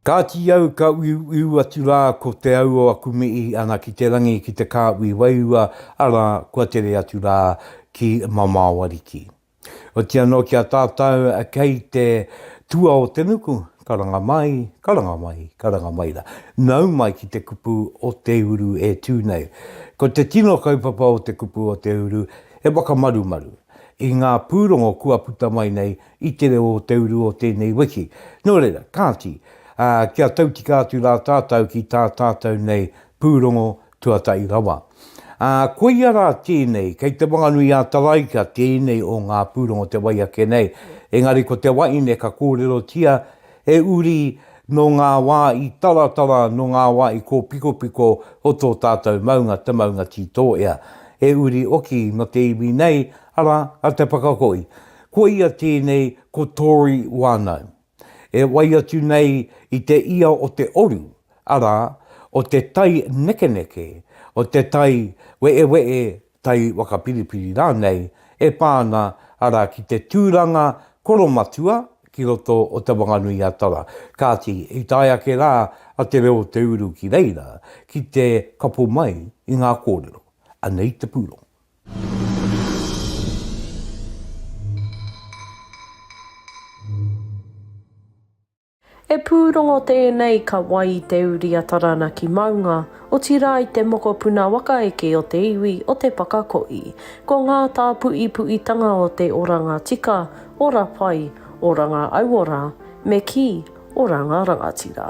Kāti au ka uiuiu atu rā ko te au o aku mihi ana ki te rangi ki te kāhui wairua, arā, kua tere atu rā ki Mamaoariki. Otianō ki a tātau kei te tua o te nuku, Karanga mai, karanga mai, karanga mai ra. Nau mai ki te kupu o te uru e tu nei. Ko te tino kaupapa o te kupu o te uru, he whakamarumaru i nga purongo kua puta mai nei i te reo o te uru o tenei wiki. No reira, kati, kia tautika atu ra tatou ki ta tatou nei purongo Tuatahi rawa. Ā, koia rā tēnei, kei Te Whanganui-ā-Taraika tēnei o ngā pūrongo o te wai ake nei, engari ko te wahine ka kōrerotia he uri nō ngā wā i taratara, nō ngā wā i kōpikopiko o tō tātou maunga, te maunga tītōea. He uri oki nō te iwi nei, arā, a Te Whakahoe. Koia tēnei ko Tory Whānau. e wai atu nei i te ia o te oru, arā, o te tai nekeneke, o te tai weewe'e, tai wakapiripiri rānei, e pā ana, arā, ki te tūranga koromatua ki roto o Te Whanganui-a-Tara. Kāti, i tae ake rā a Te Reo o Te Uru ki reira, ki te kapo mai i ngā kōrero. Anei te pūrongo. He pūrongo tēnei ka wai i te uri a Taranaki maunga, otirā i te mokopuna waka eke o te iwi o Te Pakakoʻi. Ko ngā tāpuʻipuʻitanga o te oranga tika, ora pai, oranga auora, me kī, oranga rangatira.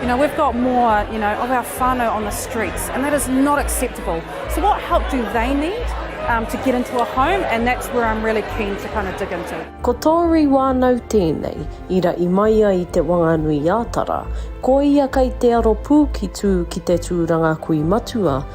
You know, we've got more, you know, of our whānau on the streets, and that is not acceptable. So what help do they need um, to get into a home? And that's where I'm really keen to kind of dig into. Ko Tori wānau tēnei, i raʻi mai ai te Wanganui-ā-Tara, ko ia kei te aro pū ki tū ki te tūranga kui matua,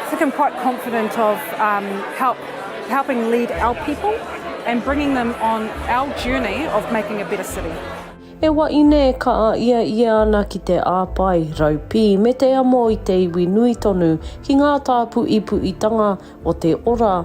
I think I'm quite confident of um, help, helping lead our people and bringing them on our journey of making a better city. E waine e ka a ia ia ana ki te āpai, raupī me te amo i te iwi nui tonu ki ngā tāpu i puitanga o te ora,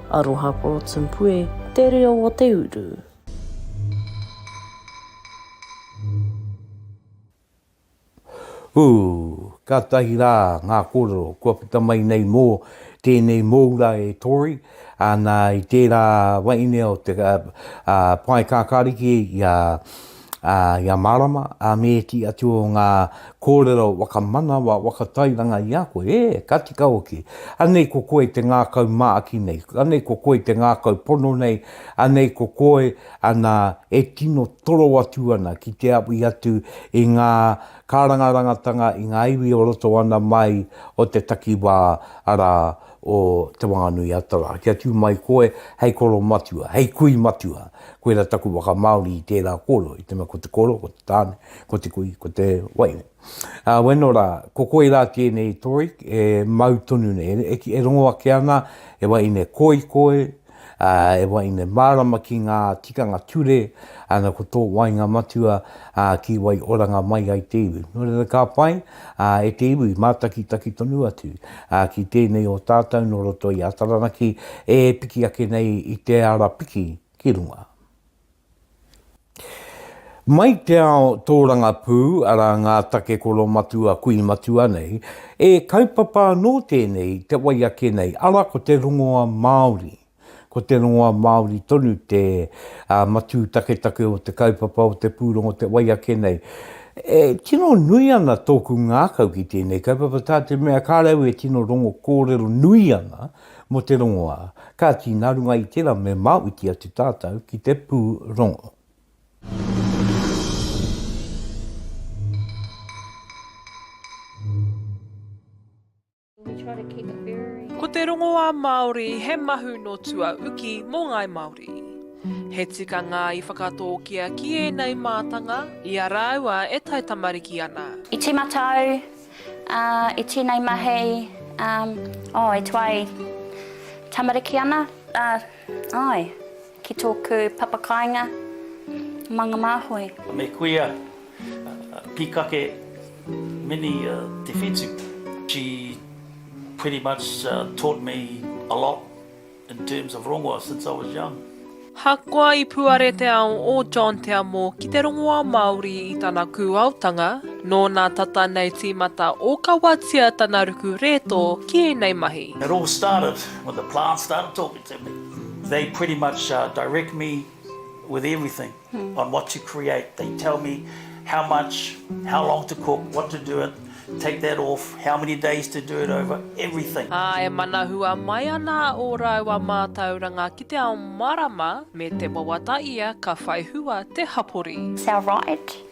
Aroha Porotempue, te reo o te uru. Ooh! Katahi ra nga korero kua puta mai nei mo tenei moura e Tori, ana i tera wainea o te pae kakariki i a ā, i a Marama, ā, me ētehi atu o ngā kōrero whakamanawa, whakatairanga i a koe, ē, ka tika hoki. Anei ko koe te ngākau māki nei, anei ko koe te ngākau pono nei, anei ko koe ana e tino toro atu ana ki te awi atu i ngā kārangarangatanga, i ngā iwi o roto ana mai o te takiwā, arā, o Te Whanganui-a-Tara, kia tū mai koe hei koro matua, hei kui matua, koira taku waka Māori i tērā kōrero, i te mea ko te koro, ko te tāne, ko te kui, ko te waina. Ā, weno rā, ko koi rā tēnei toi e mau tonu nei, e, e, e rongo ake ana, e waine, koi koe, e wai nei, mārama ki ngā tikanga ture, ana ko tō wainga matua ki wai oranga mai ai te iwi. Nō reira ka pai e te iwi mātakitaki tonu atu ki tēnei o tātou nō roto i a Taranaki e piki ake nei i te ara piki ki runga. Mai te ao tōrangapū, arā ngā take koromatua kui matua nei, e kaupapa anō tēnei i te wai ake nei, arā ko te rongoa Māori. Ko te rongoa Māori tonu te uh, matū taketake o te kaupapa o te pūrongo te wai ake nei. E tino nui ana tōku ngākau ki tēnei kaupapa tā te mea kā rau e tino rongo kōrero nui ana, Mō te rongoā. Kāti, nā runga i tērā me māuti atu tātou ki te pūrongo. Ko te rongoā Māori he mahu nō tua uki mō ngāi Māori. He tikanga i whakatōkia ki ēnei mātanga i a rāua e taitamariki ana. I tīmata au. Ā, e tēnei mahi, ā, ō, e tuai tamariki ana, ā, āe, ki tōku papakāinga Manga Māhoe. Me kuia pīkake mini te whetū. She pretty much taught me a lot. In terms of rongoa, since I was young. Ahakoa i puare te ao o John Te Amo ki te rongoa Māori i tana kūaotanga, nōna tata nei tīmata ōkawatia tana ruku rētō ki ēnei mahi. It all started when the plants started talking to me. They pretty much direct me with everything. on what to create, they tell me how much, how long to cook, what to do it, take that off, how many days to do it over, everything. Ā, e manahua mai ana ō rāua mātauranga ki te ao marama me te wawata ia ka whai hua te hapori. Is our right.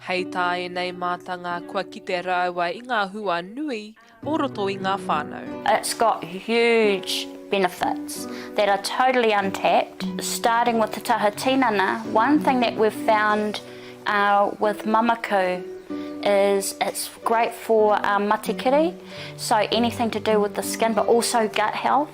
Hei tā ēnei mātanga kua kite rāua i ngā hua nui o roto i ngā whānau. It's got huge benefits that are totally untapped, starting with te taha tinana, one thing that we've found with Mamaku is it's great for matikiri, so anything to do with the skin but also gut health.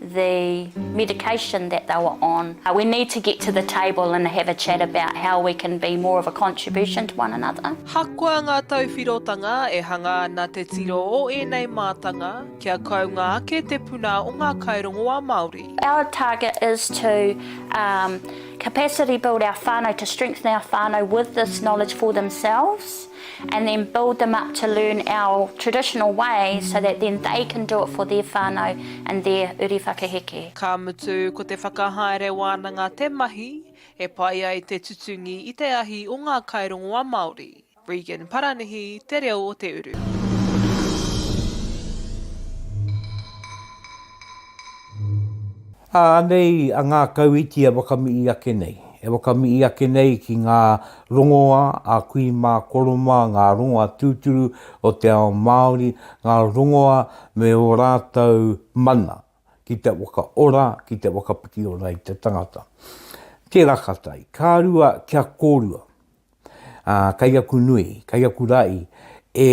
the medication that they were on, we need to get to the table and have a chat about how we can be more of a contribution to one another. Hakoa ngā tauwhirotanga e hanga ana te tiro o ēnei mātanga kia kounga ake te puna o ngā kairongoā Māori. Our target is to capacity build our whānau, to strengthen our whānau with this knowledge for themselves. and then build them up to learn our traditional ways so that then they can do it for their whānau and their uri whakaheke. Ka mutu, ko te whakahaere wānanga te mahi e pai ai te tutungi i te ahi o ngā kairongoa Māori. Regan Paranihi, Te Reo o Te Uru. Anei a ngākau iti e wakamii ake nei. E wakamii ake nei ki ngā rongoa a kui mā Koroma, ngā rongoa tūturu o te ao Māori, ngā rongoa me o rātou mana ki te wakaora, ki te whakapiki ora i te tangata. Tērā ka tae, ka rua kia kōrua. ā, kei aku nui, kei aku ra'i, e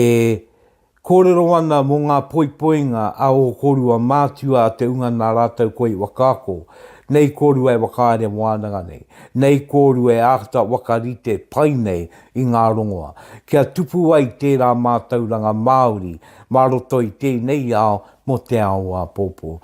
kōrero ana mō ngā poipoinga a ō kōrua mātua a te unga nā rātou koa i whakaako, nei kōrua e whakahaere wānanga nei, nei kōrua e āta whakarite pai nei i ngā rongoa, kia tupu ai tērā mātauranga Māori mā roto i tēnei ao mō te ao āpōpō.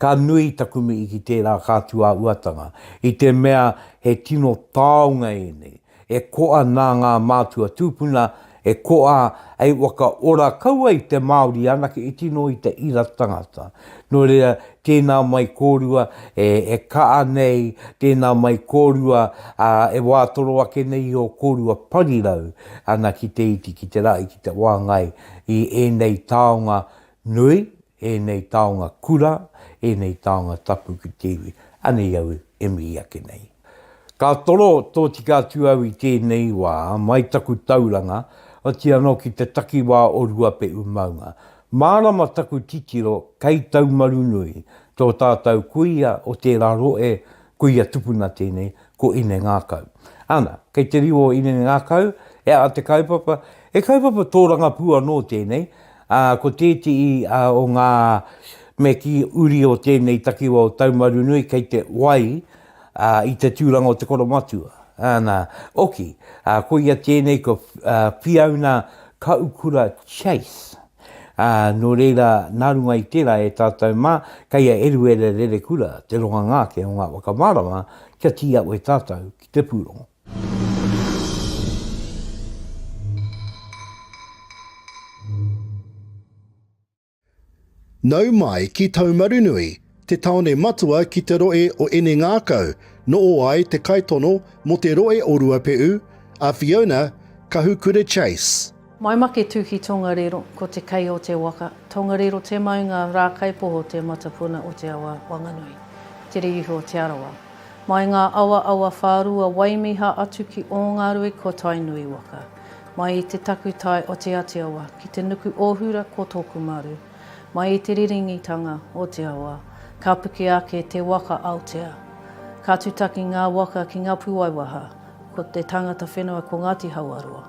Ka nui taku mihi ki tērā kātuāuatanga, i te mea he tino taonga ēnei, e koa nā ngā mātua tūpuna, e koa hei whakaora kau ai te Māori anake i tino i te ira tangata. Nō reira, tēnā mai kōrua e, e kaa nei, tēnā mai kōrua ā, e wātoro ake nei i ō kōrua parirau, ana ki te iti, ki te rahi, ki te whāngai i ēnei taonga Nui, ēnei taonga kura, ēnei taonga tapu ki te iwi. Anei au e mihi ake nei. Ka toro tōtika atu au i tēnei wā, mai taku tauranga, oti anō ki te takiwā o Ruapehu maunga. Mārama taku titiro kei Taumarunui, tō tātou kuia o tērā rohe, kuia tupuna tēnei, ko Inengākau. Ana, kei te riu o Inengākau, he aha te kaupapa? He kaupapa tōrangapū anō tēnei, ā, ko tētehi ā, o ngā mea ki uri o tēnei takiwa o Taumarunui kei te wai ā, i te tūranga o te koromatua. Ana, oki, ā, koia tēnei ko ā, Whiauna Kaukura Chase. Ā, nō reira, nā runga i tērā e tātou mā, kei a Eruera Rerekura te ronganga ake o ngā whakamārama kia tīawe tātou ki te pūrongo. Nau mai ki Taumarunui, te taone matua ki te rohe o Enengākau, noo ai te kaitono mo te rohe o Ruape'u, a Fiona Kahukura Chase. Maimake Tuki Tongariro Ko te kei o te waka Tongariro Te Maunga Rākaipoho Te Matapuna o te Awa Wanganui Te Ririhi o Te Arawa Mai ngā awa awa whārua Waimiha atu ki Ōngarue Ko Tainui waka Mai i te takutai o Te Atiawa Ki te nuku ōhura Ko Tokumaru Mai i te riringitanga o te awa Ka puke ake te waka Aotea Ka tutaki ngā waka ki Ngapuwaiwaha Ko te tangata whenua Ko Ngāti Hauaroa.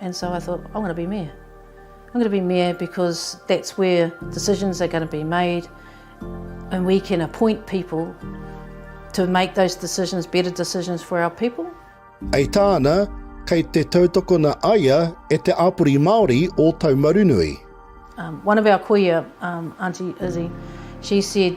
And so I thought, I'm going to be Mayor. I'm going to be Mayor because that's where decisions are going to be made and we can appoint people to make those decisions, better decisions for our people. Hei tāna, kei te tautokona a ia e te āpori Māori o Taumarunui. Um, one of our kuia, um, Auntie Izzy, she said,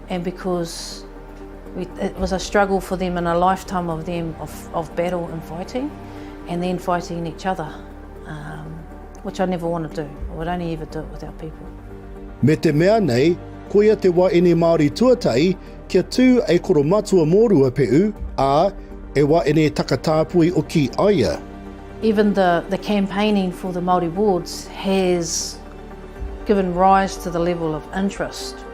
And because we, it was a struggle for them and a lifetime of them of, of battle and fighting and then fighting each other, um, which I never want to do. I would only ever do it with our people. Me te mea nei, koia te wa ene Māori tuatahi kia tū e Koromatua mō Ruape'u, ā, e wa ene Takatāpui o Ki Aia. Even the, the campaigning for the Māori wards has given rise to the level of interest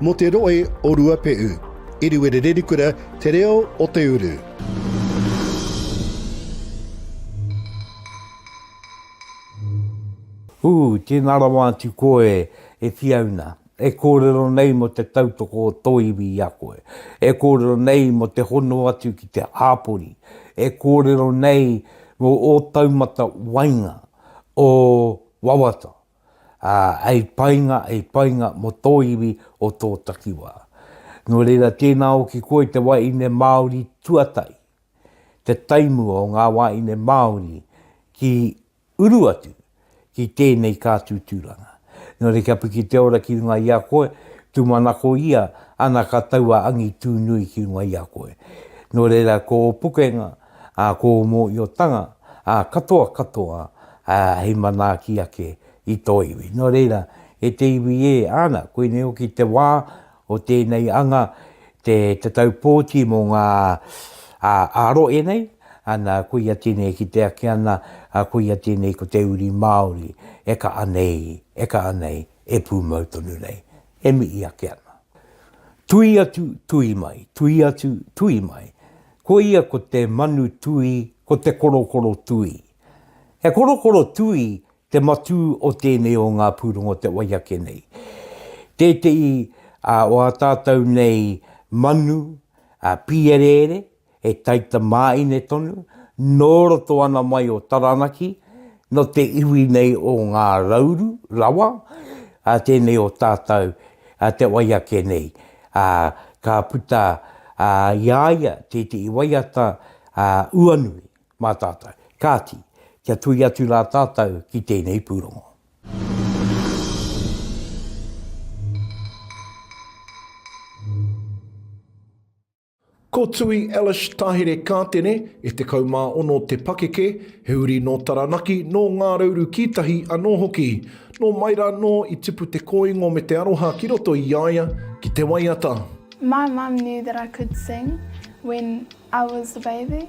Mō te rohe o Ruapehu. Iriwere Rerikura te reo o te uru. Hu, tēnā rawa atu koe e Fiona, e kōrero nei mō te tautoko o tō iwi i a koe, e kōrero nei mō te hono atu ki te hāpori, e kōrero nei mō ō taumata wainga o wawata. ā, hei painga, hei painga mō tō iwi o tō takiwā. Nō reira, tēnā o ki koe te wāhine Māori tuatahi, te taimua o ngā wāhine Māori ki uru atu ki tēnei kātū tūranga. Nō reira, kia piki te ora ki runga i a koe, tūmanako ia, ana ka tau a Angitūnui ki runga i a koe. Nō reira, ko ō pukenga, ā kōu mōhiotanga, ā katoa katoa, ā hei manaaki ake i tō iwi. Nō reira, e te iwi ē, āna, koinei hoki te wā o tēnei anga, te tatau pōti mō ngā āro e nei, ana, koia tēnei e kite ake ana, ā, koia tēnei ko te uri Māori, e kaʻa nei, e kaʻa nei, e pūmau tonu nei. e mihi ake ana. Tui atu, tui mai, tui atu, tui mai, ko ia ko te manu tui, ko te korokoro tui. He korokoro tui te matū o tēnei o ngā pūrongo o te wai ake nei. Tētehi o ā tātou nei manu, pīereere, he taitamāine tonu, nō roto ana mai o Taranaki, nō te iwi nei o Ngā Rauru rawa, ā, tēnei o tātou, ā, te wai ake nei. Ā, ka puta, ā, i a ia tētehi waiata, ā, uanui mā tātou. Kāti, kia tuhi atu rā tātou ki tēnei pūrongo. Ko Tui Ellis Tahere Kātene, e 16 te pakeke, he uri nō Taranaki, nō Ngā Rauru ki tahi anō hoki. Nō mai rā nō i tipu te kōingo me te aroha ki roto i a ia ki te waiata. My mum knew that I could sing when I was a baby.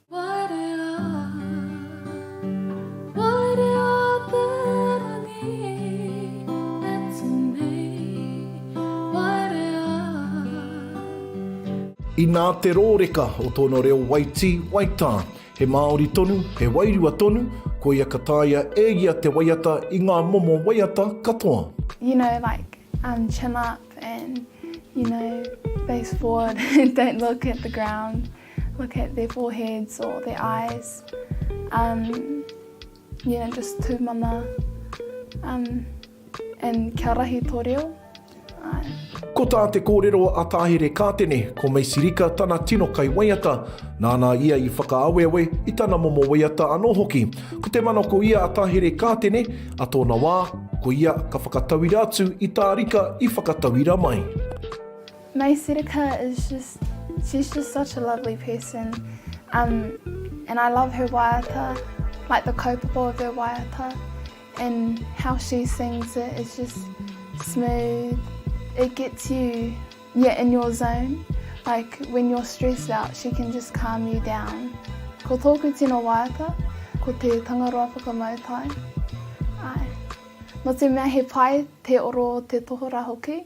Inā te rōreka o tōna reo waitī, waitā. He māori tonu, he wairua tonu, koia ka taea e ia te waiata i ngā momo waiata katoa. You know like um chin up and you know face forward don't look at the ground. Look at their foreheads or their eyes um, you know, just tūmana um, and kia rahi tō reo. Ko tā te kōrero a Tāhere Kātene, ko Macy Rika tana tino kaiwaiata, nāna ia i whakaaweawe i tana momo waiata anō hoki. Ko te mana ko ia a Tāhere Kātene, a tōna wā, ko ia ka whakatauira atu i tā Rika i whakatauira mai. Mei Sereka is just, she's just such a lovely person um, and I love her waiata, like the kaupapa of her waiata and how she sings it, it's just smooth, it gets you yeah, in your zone, like when you're stressed out she can just calm you down. Ko tōku tino waiata, ko te Tangaroa Whakamautai. Ai. No te mea he pai te oro te tohora hoki,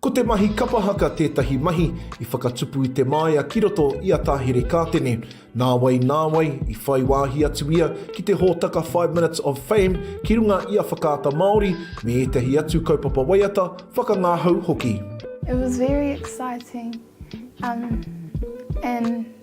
Ko te mahi kapa haka tētahi mahi i whakatupu i te māia ki roto i a Tahere Kātene. Nāwai, nāwai, i whai wāhi atu ia ki te hōtaka Five Minutes of Fame ki runga i a Whakaata Māori me ētahi atu kaupapa waiata, whakangāhau hoki. It was very exciting, um, and.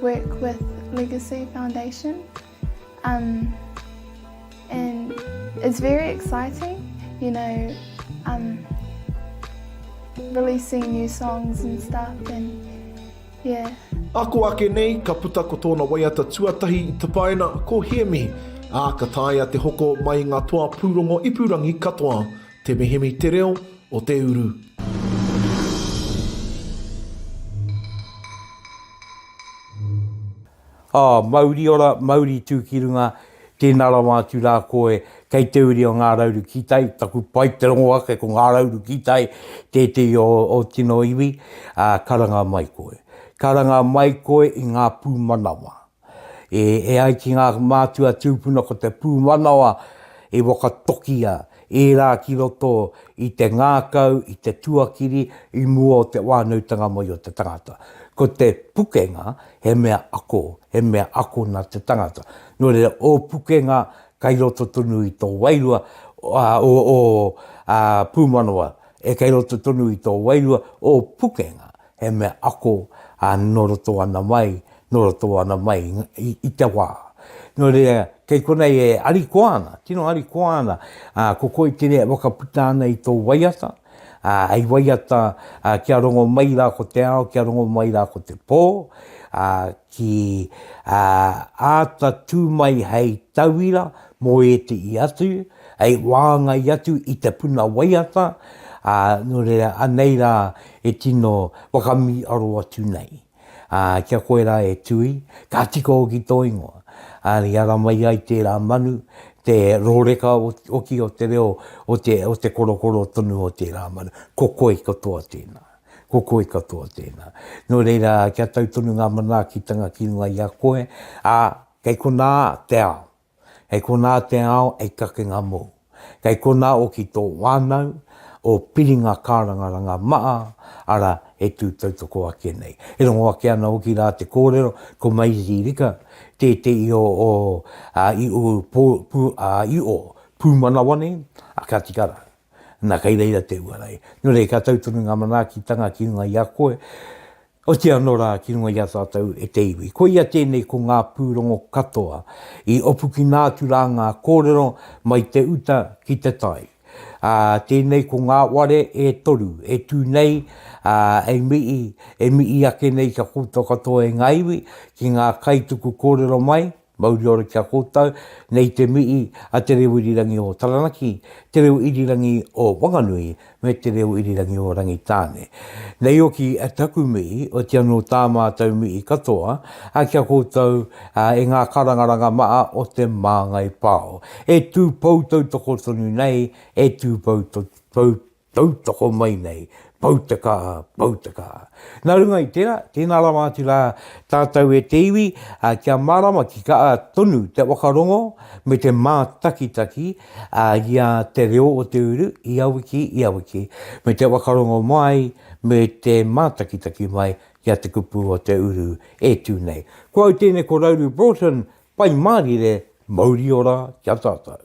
work with Legacy Foundation um, and it's very exciting, you know, um, releasing new songs and stuff and yeah. Ako ake nei, ka puta ko tōna waiata tuatahi i tapaina ko Hiemihi, ā, ka taea te hoko mai ngā toa pūrongo ipurangi katoa. Te Mihimi Te Reo o te Uru. Oh, mauri ora, mauri tu ki runga, tēnā rawa atu rā koe, kei te uri o Ngā Rauru ki tai, taku pai te rongo ake ko Ngā Rauru ki tai, tētehi o o tino iwi, ā, karanga mai koe. Karanga mai koe i ngā pūmanawa. E ai ki ngā mātua tūpuna ko te pūmanawa i whakatokia ērā ki roto i te ngākau, i te tuakiri i mua o te whānautanga mai o te tangata. Ko te pukenga he mea ako, he mea ako nā te tangata. Nō reira, ō pukenga kei roto tonu i tō wairua, ō pūmanawa e kei roto tonu i tō wairua, ō pukenga He mea ako a nō roto ana mai, nō roto ana mai i te wā. Nō reira, kei konei e arikoa ana, tino arikoa ana, ā, ko koe te mea e whakaputa ana i tō waiata, ā, hei waiata kia rongo mai rā ko te ao, kia rongo mai rā ko te pō, ā, ki, ā, āta tū mai hei tauira mō ētehi atu, hei wāngai atu i te puna waiata, ā, nō reira, anei rā e tino whakamiaro atu nei. Ā, kia koe rā e Tui, ka tika hoki tō ingoa. Ā, i ara mai ai tērā manu, te rōreka hoki o te reo o te, o te korokoro tonu o tērā manu. Ko koe katoa tēnā. Ko koe katoa tēnā. Nō reira, kia tau tonu ngā manaakitanga ki runga i a koe, ā, kei konā te ao. Kei konā te ao hei kakenga mōu. Kei konā hoki tō whānau, ō piringa kārangaranga maha, arā, he tū tautoko ake nei. E rongo ake ana hoki rā te kōrero, ko Mairiri Rika tētehi o ō iho pūmanawa nei, ā, ka tika rā. Nā, kei reira te uara e. Nō reira, ka tau tonu ngā manaakitanga ki runga i a koe, Oti anō rā ki runga i a tātou e te iwi. Koia tēnei ko ngā pūrongo katoa i opukina atu rā ngā kōrero mai te uta ki te tai. Ā, tēnei ko ngā ware e toru e tū nei, ā, e mihi, e mihi ake nei kia kōtō katoa e ngā iwi, ki ngā kaituku kōrero mai, Mauri ora ki a koutou, nei te mihi a Te Reo Irirangi o Taranaki, Te Reo Irirangi o Wanganui me Te Reo Irirangi o Rangitāne. Nei hoki taku mihi, otia nō tā mātou mihi katoa ki a koutou e ngā karangaranga maha o Te Māngai Pao, e tū pou tautoko tonu nei, e tū pou Tautoko mai nei, Poutaka, Poutaka. Nā runga i tērā, tēnā rawa atu rā tātou e te iwi kia mārama ki kā tonu te whakarongo me te mātakitaki i a te reo o te uru ia wiki, ia wiki, me te whakarongo mai, me te mātakitaki mai i a te kupu o te uru e tū nei. Ko au tēnei ko Rauru Broughton, Pai Mārire, mauri ora ki a tātou.